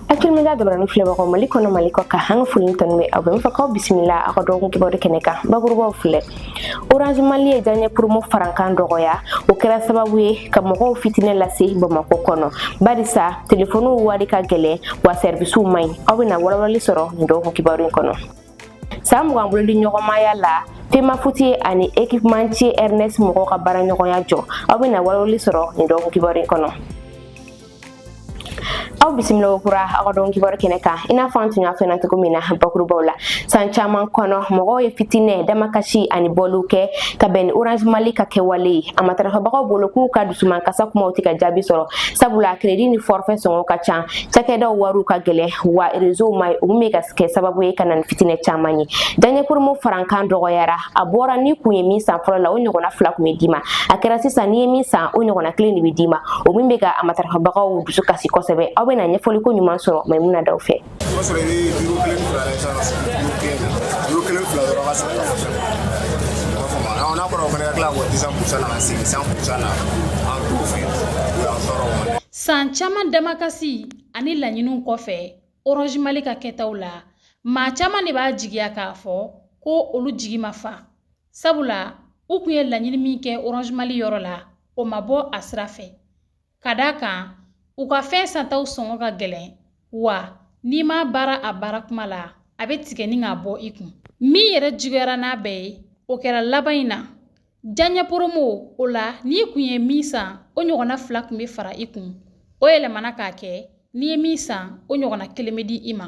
Actuel Media jabaranin filɛbagaw Mali kɔnɔ Mali kɔkan an ka foli tanu bɛ aw bɛɛ n fɛ k'aw bisimila aw ka dɔgɔkun kibaru kɛnɛ kan bakurubaw filɛ Orange Mali ye diyaɲɛ promo farankan dɔgɔya o kɛra sababu ye ka mɔgɔw fitinɛ lase Bamakɔ kɔnɔ barisa telefoniw wari ka gɛlɛn wa sɛribisiw man ɲi aw bɛna walawalali sɔrɔ nin dɔgɔkun kibaru in kɔnɔ san mugan bolodiɲɔgɔnmaya la Femafuti ani équipementier Airness mɔgɔw ka baaraɲɔgɔnya jɔ aw bɛna walawalali sɔrɔ nin dɔgɔkun kibaru in kɔnɔ aw bisimila kokura aw ka don kibaru kɛnɛ kan i n'a fɔ an tun y'a fɔ cogo min na bakurubaw la san caman kɔnɔ mɔgɔw ye fitinɛ damakasi ani bɔliw kɛ ka bɛn ni orange mali ka kɛwale ye a matarafabagaw bolo k'u ka dusumankasi kumaw tɛ ka jaabi sɔrɔ sabula kredi ni fɔrfɛ sɔngɔ ka ca cakɛdaw wariw ka gɛlɛn wa rezow man ɲi olu bɛ ka kɛ sababu ye ka na ni fitinɛ caman ye diyaɲɛ promo farankan dɔgɔyara a bɔra ni kun ye min san fɔlɔ la o ɲɔgɔnna fila kun bɛ d'i ma a kɛra sisan n'i ye min san o ɲɔgɔnna kelen de bɛ d'i ma o min bɛ ka a matarafabagaw dusu kasi kosɛbɛ aw bɛna ɲɛfɔli koɲuman sɔrɔ maimuna daw fɛ san caman damakasi ani laɲiniw kɔfɛ orange mali ka kɛtaw la maa caman de b'a jigiya k'a fɔ ko olu jigi ma fa sabula u kun ye laɲini min kɛ orange mali yɔrɔ la o ma bɔ a sira fɛ ka d'a kan u ka fɛn santaw sɔngɔ ka gɛlɛn wa n'i m'a baara a baara kuma la a bɛ tigɛ ni k'a bɔ i kun min yɛrɛ juguyara n'a bɛɛ ye o kɛra laban in na diyaɲɛ poromo o la n'i kun ye min san o ɲɔgɔnna fila kun bɛ fara i kun o yɛlɛmana k'a kɛ n'i ye min san o ɲɔgɔnna kelen bɛ di i ma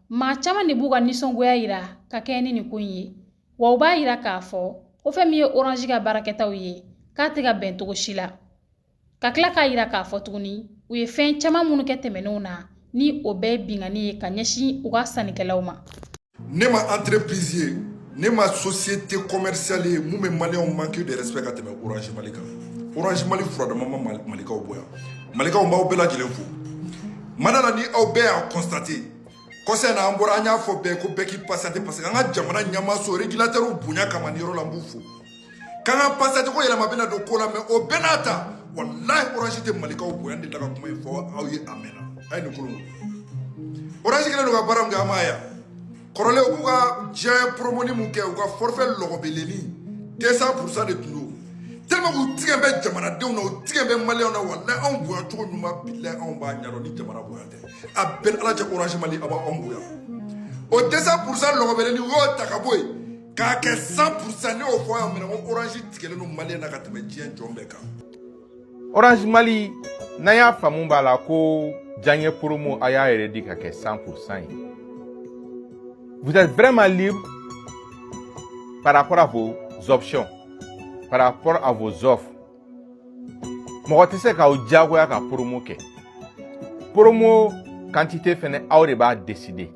maa caman de b'u ka nisɔngoya yira ka kɛɲɛ ni nin ko in ye wa u b'a yira k'a fɔ ko fɛn min ye oranzi ka baarakɛtaw ye k'a tɛ ka bɛn cogo si la ka tila k'a yira k'a fɔ tuguni u ye fɛn caman minnu kɛ tɛmɛnenw na ni o bɛɛ ye binkanni ye ka ɲɛsin u ka sannikɛlaw ma ne ma entreprise ye ne ma société commerciale ye mun bɛ maliyɛnw manque de respect ka tɛmɛ orange mali kan orange mali furadama ma malikaw bonya malikaw n b'aw bɛɛ lajɛlen fo mada la ni aw bɛɛ y'a kɔnstate kɔsa in na an bɔra an y'a fɔ bɛɛ ko bɛɛ k'i patienter parce que an ka jamana ɲɛmaaso régulateurw bonya kama nin yɔrɔ la n b'u fo k'an ka patienter ko yɛlɛma bɛna don ko la mɛ o bɛɛ n'a ta walahi orange tɛ malikaw bonya ne delila ka kuma in fɔ aw ye a mɛnna a ye nin kolo orange kɛlen don ka baara min kɛ an bara yan kɔrɔlen u b'u ka diyaɲɛ poromoni mun kɛ u ka fɔrifɛ lɔgɔbeleni 200 purusa de tun don tellement k'u tigɛ bɛ jamanadenw na u tigɛ bɛ maliyɛnw na walayi anw bonya cogo ɲuman bilayi anw b'a ɲɛdɔn nin jamana bonya tɛ a bɛɛ ni ala cɛ orange mali a b'anw bonya o 200 purusa lɔgɔbeleni u y'o ta ka bɔ yen k'a kɛ 100 purusa ne y'o fɔ yan minɛ ko orange tigɛlen don maliyɛn na ka tɛmɛ diɲɛ jɔn bɛɛ kan Orange Mali n'an y'a faamu b'a la ko diyaɲɛ promo aw y'a yɛrɛ di ka kɛ 100% ye vous êtes vraiment libre par rapport à vos options par rapport à vos offres mɔgɔ tɛ se k'aw diyagoya ka promo kɛ promo quantité fɛnɛ aw de b'a décider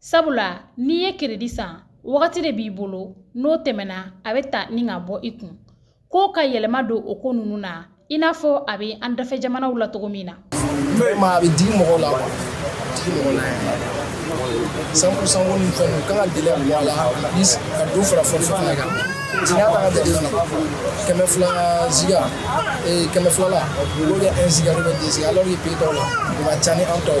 sabula n'i ye keredi san wagati de b'i bolo n'o tɛmɛna a bɛ ta ni ka bɔ i kun ko ka yɛlɛma don o ko ninnu na i n'a fɔ a bɛ an dafɛ jamanaw la cogo min na a bɛ digi mɔgɔ la 100% ni fɛn kan ka délai bɔ a la ka dɔ fara forfait fana kan kɛmɛ fila ziga kɛmɛ fila la olu kɛ un ziga ou bien deux ziga alors que pays dɔw la u ka ca ni an tɔw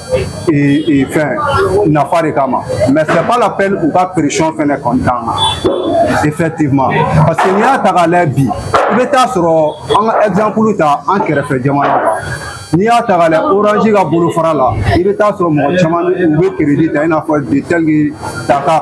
fɛn nafa de kama mais c'est pas la peine u ka pression fɛnɛ kɔni k'an kan effectivement parce que n'i y'a ta k'a lajɛ bi i bɛ taa sɔrɔ an ka exemple ta an kɛrɛfɛ jamana kan n'i y'a ta k'a lajɛ orange ka bolofara la i bɛ taa sɔrɔ mɔgɔ caman u bɛ crédit ta i n'a fɔ de tel que dakar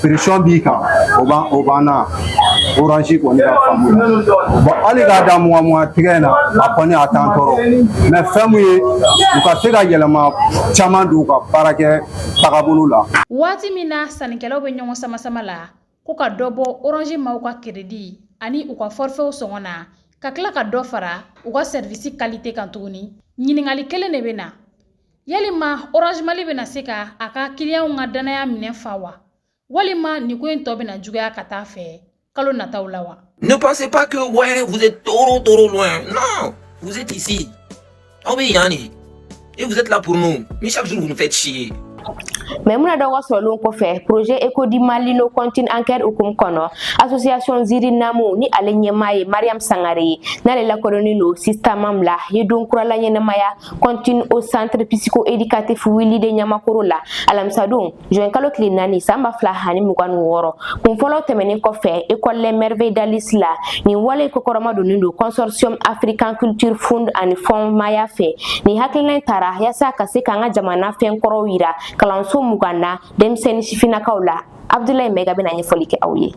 pression b'i kan o banna orange kɔni ka faamu la bon hali k'a da mugan mugan tigɛ in na a kɔni a t'an tɔɔrɔ mais fɛn min ye u ka se ka yɛlɛma caman don u ka baarakɛ tagabolo la waati min na sannikɛlaw bɛ ɲɔgɔn samasama la ko ka dɔ bɔ orange maw ka keredi ani u ka fɔrifɛw sɔngɔ na ka tila ka dɔ fara u ka sɛrivisi kalite kan tuguni ɲininkali kelen de bɛ na Yalima Orange Mali bɛna se ka a ka kiliyanw ka dannaya minɛn fa wa? Walima nin ko in tɔ bɛna juguya ka taa fɛ kalo nataw la wa? Ne pensez pas que ouais, vous êtes trop trop loin. Non, vous êtes ici. Aw bɛ yan de. Et vous êtes là pour nous. Mais chaque jour vous nous faites chier. Maïmouna Dao ka sɔrɔlenw kɔfɛ projet écho du Mali nos comptines en chœur hukumu kɔnɔ association ziri namu ni ale ɲɛmaa ye mariam sangare ye n'ale lakodɔnnen don sista mam la ye don kurala ɲɛnamaya kɔntini au centre psycho éducatif willy de ɲamakoro la alamisadon juin kalo tile naani san ba fila ani mugan ni wɔɔrɔ kun fɔlɔ tɛmɛnin kɔfɛ école les merveilles d'alice la nin wale kɔkɔrɔma donnen don consortium african culture fund ani fonds maaya fɛ nin hakilina tara yaasa ka se k'an ka jamana fɛn kɔrɔw yira kalanso mugan na denmisɛnni sifinnakaw la Abdoulaye Maïga bɛna ɲɛfɔli kɛ aw ye.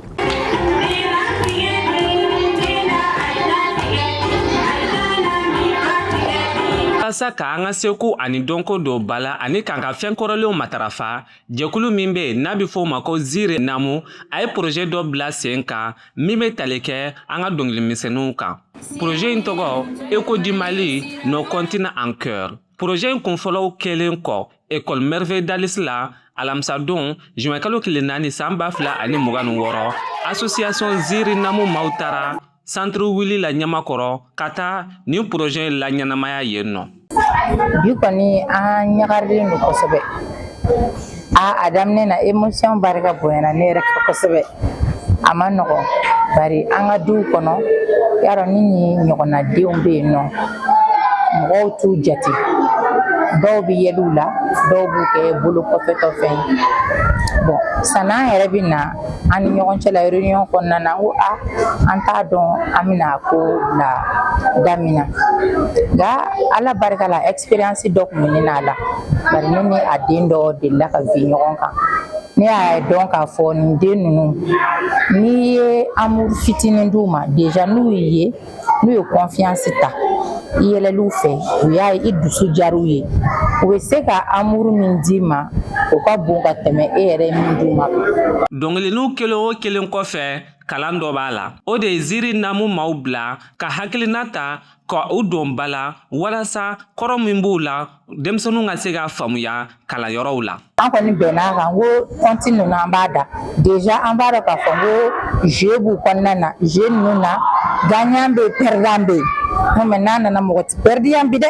walasa ka an ka seko ani dɔnko don ba la ani k'an ka fɛn kɔrɔlenw matarafa jɛkulu min be n'a be fɔ o ma ko ziri namu a ye poroze dɔ bila sen kan min be tali kɛ an ka dɔnkilimisɛnninw kan poroze in tɔgɔ écho du Mali nos comptines en chœur Poroze in kunfɔlɔw kɛlen kɔ ekɔli Merveille d'Alice la alamisadon zuwɛnkalo tile naani san ba fila ani mugan ni wɔɔrɔ asosiyasɔn ziiri namu maaw taara santiri Wili la Ɲamakɔrɔ ka taa nin poroze in laɲɛnamaya yen nɔ bi kɔni an ɲagarilen don kosɛbɛ aa a daminɛ na émotion barika bonyana ne yɛrɛ kan kosɛbɛ a ma nɔgɔ bari an ka duw kɔnɔ yan nɔ ni nin ɲɔgɔnna denw bɛ yen nɔ mɔgɔw t'u jate dɔw bɛ yɛlɛ u la dɔw b'u kɛ bolo kɔfɛtɔ fɛn ye bon san'an yɛrɛ bɛ na an ni ɲɔgɔn cɛ la réunion kɔnɔna na n ko a an t'a dɔn an bɛna ko bila da min na nka ala barika la expérience dɔ tun bɛ ne n'a la bari ne ni a den dɔ delila ka bin ɲɔgɔn kan ne y'a dɔn k'a fɔ nin den ninnu n'i ye amuru fitinin d'u ma deja n'u y'i ye n'u ye kɔnfiyansi ta i yɛlɛliw fɛ u y'a ye i dusu diyar'u ye u bɛ se ka amuru min d'i ma o ka bon ka tɛmɛ e yɛrɛ ye min d'u ma dɔnkili ninnu kelen o kelen kɔfɛ kalan dɔ b'a la o de ye ziiri namu maaw bila ka hakilina ta ka u don ba la walasa kɔrɔ min b'u la denmisɛnninw ka se k'a faamuya kalanyɔrɔw la an kɔni bɛnna a kan ko conte ninnu an b'a da deja an b'a dɔn k'a fɔ ko jeu b'u kɔnɔna na jeu ninnu na gagnant bɛ perdant bɛ yen mais n'a nana mɔgɔ tɛ pɛrɛdi yan bi dɛ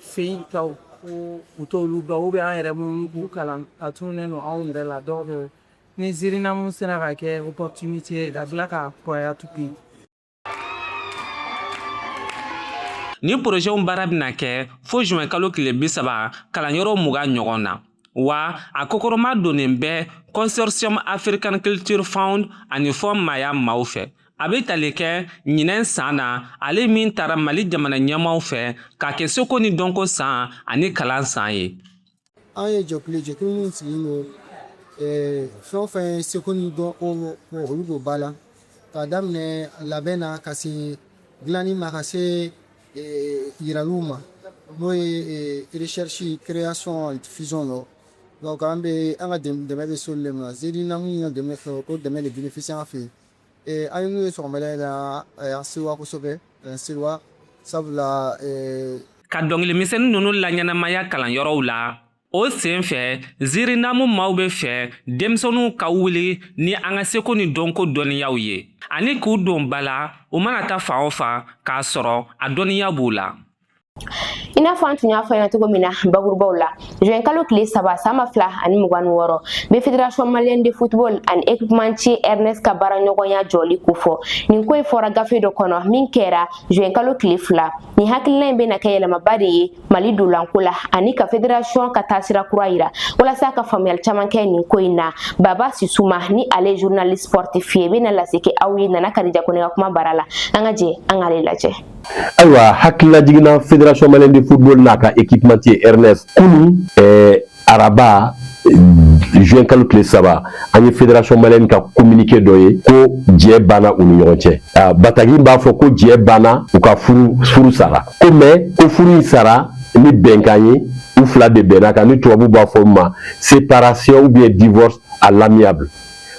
Fɛ yen taw ko u t'olu dɔn ou bien an yɛrɛ minnu b'u kalan a tununnen don anw yɛrɛ la donc ni ziirinamu sera ka kɛ opportunité ka bila ka kɔrɔya tugun nin porozew baara bɛna kɛ fo zuwɛnkalo tile bi saba kalanyɔrɔ mugan ɲɔgɔn na wa a kɔkɔrɔmadonnen bɛ Consortium African Culture Fund ani Fonds Maaya maaw fɛ A bɛ tali kɛ ɲinɛn san na ale min tara Mali jamana ɲɛmaaw fɛ k'a kɛ seko ni dɔnko san ani kalan san ye. An ye jɛkulu ye jɛkulu min sigilen don eh, fɛn o fɛn ye seko ni dɔnko olu don ba la k'a daminɛ labɛn na ka se dilanni ma ka se eh, yiraliw ma n'o ye eh, recherche création diffusion lɔ donc an bɛ an ka dɛmɛ bɛ s'olu le ma ziirinamu ka dɛmɛ fɛ o dɛmɛ de bénéficie an fɛ yen an ye n'u ye sɔgɔmada in na an sewa kosɛbɛ an sewa sabula ka dɔnkilimisɛnnin ninnu laɲɛnamaya kalanyɔrɔw la o sen fɛ ziirinamu maaw bɛ fɛ denmisɛnninw ka wuli ni an ka seko ni dɔnko dɔnniyaw ye ani k'u don ba la u mana taa fan o fan k'a sɔrɔ a dɔnniya b'u la I n'a fɔ an tun y'a fɔ ɲɛna cogo min na bakurubaw la juin kalo tile saba san ba fila ani mugan ni wɔɔrɔ bɛ fédération malienne de football ani équipementier airness ka baara ɲɔgɔnya jɔli kofɔ nin ko in fɔra gafe dɔ kɔnɔ min kɛra juin kalo tile fila nin hakilina in bɛna kɛ yɛlɛmaba de ye mali dolanko la ani ka fédération ka taasira kura yira walasa ka faamuyali caman kɛ nin ko in na baba sisuma ni ale journaliste sportif ye bɛna lase kɛ aw ye nana kadija kone ka kuma bara la an ka jɛ an k'ale lajɛ ayiwa hakililajigin na fédération malienne de football n'a ka équipementier airness kunu eh, araba juin kalo tile saba an ye fédération malienne ka communiqué dɔ ye ko jɛ banna u ni ɲɔgɔn cɛ ah, batagi b'a fɔ ko jɛ banna u ka furu furu sara ko mais ko furu in sara ni bɛnkan ye u fila de bɛnna kan ni tubabu b'a fɔ ma séparation ou bien divorce à l'amiable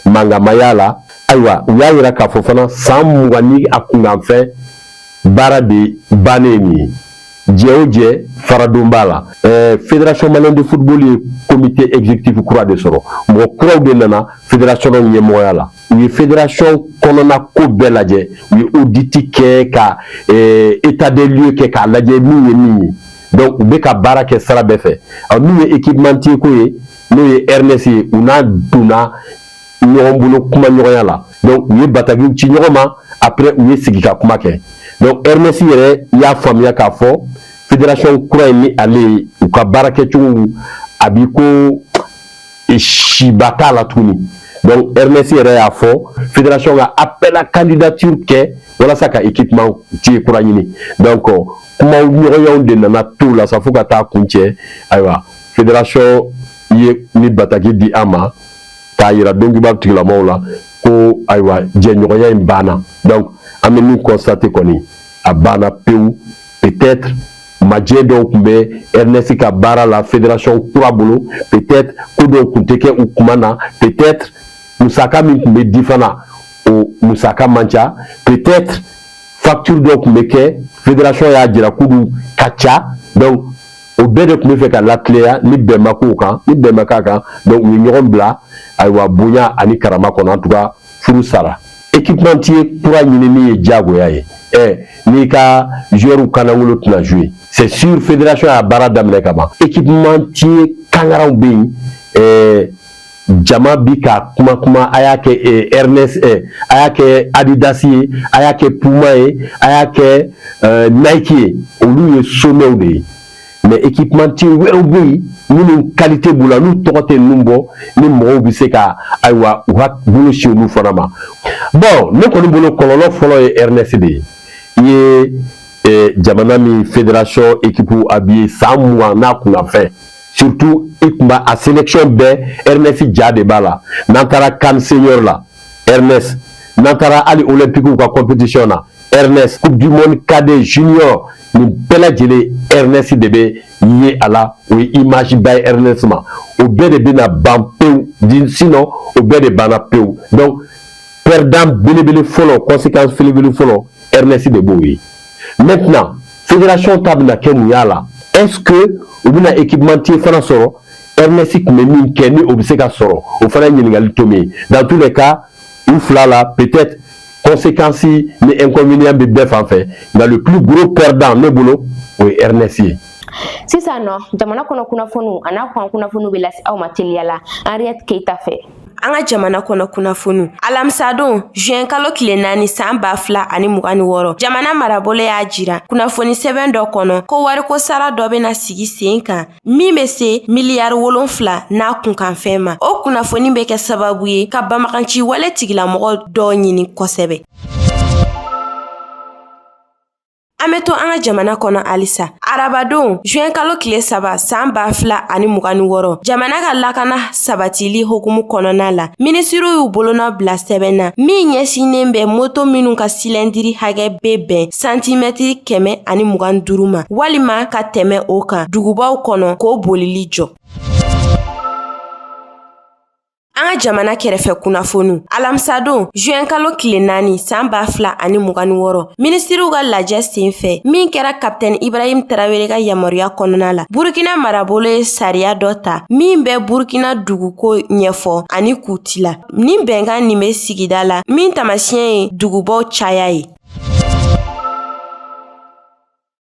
mankan ma y'a la ayiwa u y'a yira k'a fɔ fana san mugan ni a kunkanfɛn baara de bannen nin ye jɛ o jɛ faradon b'a la ɛɛ fédération malienne de football ye comité exécutif kura de sɔrɔ mɔgɔ kuraw de nana fédération ɲɛmɔgɔya la u ye fédération kɔnɔna ko bɛɛ lajɛ u ye audit kɛ ka ɛɛ état des lieux kɛ k'a lajɛ min ye min ye donc u bɛ ka baara kɛ sira bɛɛ fɛ min ye équipementier ko ye n'o ye airness ye u n'a donna ɲɔgɔn bolo kuma ɲɔgɔnya la donc u ye batakiw ci ɲɔgɔn ma après u ye sigi ka kuma kɛ donc airness yɛrɛ y'a faamuya k'a fɔ fédération kura in ni ale ye u ka baara kɛcogow a b'i ko e, siba t'a la tuguni donc airness yɛrɛ y'a fɔ fédération ka appel à candidature kɛ walasa ka équipementier kura ɲini donc kuma ɲɔgɔnyaw de nana to la sa fo ka taa kuncɛ ayiwa fédération ye nin bataki di an ma k'a yira donkiba tigilamɔgɔw la ko ayiwa jɛɲɔgɔnya in banna donc an bɛ min constater kɔni a banna pewu peut-être majɛ dɔw tun bɛ airness ka baara la fédération kura bolo peut-être ko dɔw tun tɛ kɛ u kuma na peut-être musaka min tun bɛ di fana o musaka man ca peut-être facture dɔw tun bɛ kɛ fédération y'a jira k'olu ka ca donc o bɛɛ de tun bɛ fɛ ka latileya ni bɛn ma k'o kan ni bɛn ma k'a kan donc u ye ɲɔgɔn bila ayiwa bonya ani karama kɔnɔ en tout cas furu sara équipementier kura ɲinini ye diyagoya ye ɛ n'i ka joueurw kanangolo tɛna jouer c'est sûr fédération y'a baara daminɛ ka ban équipementier kangaraw bɛ yen ɛɛ jama bi ka kuma kuma a y'a kɛ airness eh, a y'a kɛ adidas ye a y'a kɛ puma ye a y'a kɛ eh, nike ye olu ye somɛw de ye mais équipementier wɛrɛw bɛ yen minnu qualité b'u la n'u tɔgɔ tɛ ninnu bɔ ni mɔgɔw bɛ se ka ayiwa u ka bolo si olu fana man bon ne kɔni bolo kɔlɔlɔ fɔlɔ ye airness de ye i ye eh, jamana min fédération équipe habillé san mugan n'a kunna fɛn surtout i kun b'a a sélection bɛɛ airness ja de b'a la n'an taara CAN senior la airness n'an taara hali olympique ka compétition na airness coupe du monde cadet junior nin bɛɛ lajɛlen airness de bɛ ye a la o ye image ba ye airness ma o bɛɛ de bɛna ban pewu sinon o bɛɛ de banna pewu donc perdant belebele fɔlɔ conséquence belebele fɔlɔ airness de b'o ye maintenant fédération ta bɛna kɛ mun y'a la est ce que u bɛna équipementier fana sɔrɔ airness tun bɛ min kɛ ni o bɛ se ka sɔrɔ o fana ye ɲininkali tomi ye dans tous les cas u fila la peut être conséquence ni inconvénient bɛ bɛɛ fan fɛ nka le plus gros perdant ne bolo o ye airness ye. sisan nɔ jamana kɔnɔ kunnafoniw an'a kɔkan kunnafoniw bɛ lase aw ma teliya la henriette keyita fɛ. an ka jamana kɔnɔ kunnafoniw alamisadon juin kalo tile naani san ba fila ani mugan ni wɔɔrɔ jamana marabolo y'a jira kunnafoni sɛbɛn dɔ kɔnɔ ko wariko sara dɔ bena sigi sen kan min be se miliyari wolonfila n'a kunkanfɛn ma o kunnafoni be kɛ sababu ye ka banbaganci wale tigilamɔgɔ dɔ ɲini kosɛbɛ An be to an ka jamana kɔnɔ halisa arabadon juin kalo kile saba san ba fila ani mugan ni wɔɔrɔ jamana ka lakana sabatili hukumu kɔnɔna la minisiriw y'u bolonɔ bila sɛbɛn na min ɲɛsinnen bɛ moto minw ka silɛndiri hakɛ be bɛn santimɛtiri kɛmɛ ani mugan ni duuru ma walima ka tɛmɛ o kan dugubaw kɔnɔ k'o bolili jɔ An ka jamana kɛrɛfɛ kunnafoniw alamisadon juin kalo tile naani san ba fila ani mugan ni wɔɔrɔ minisiriw ka lajɛ sen fɛ min kɛra kapitɛni ibrahim tarawele ka yamaruya kɔnɔna la burukina marabolo ye sariya dɔ ta min bɛ burukina duguko ɲɛfɔ ani k'u tila ni bɛnkan nin bɛ sigida la min taamasiɲɛ ye dugubaw caya ye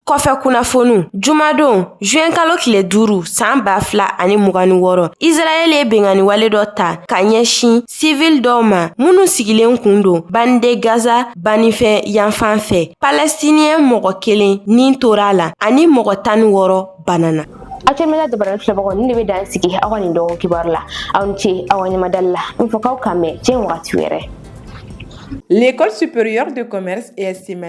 Kɔfɛ kunnafoniw jumadon juin kalo tile duuru san ba fila ani mugan ni wɔɔrɔ Israɛl ye binkanniwale dɔ ta ka ɲɛsin sivil dɔw ma minnu sigilen kun don bande Gaza baninfɛ yanfan fɛ palɛstiniyɛn mɔgɔ kelen ni tora a la ani mɔgɔ tan ni wɔɔrɔ banana Akemela dabara filɛbagaw nin de bɛ dan sigi aw ka nin dɔgɔ kibaru la aw ni ce aw ka ɲɛmadali la n fɔ k'aw k'an bɛn diɲɛ wagati wɛrɛ L'école supérieure de commerce et estime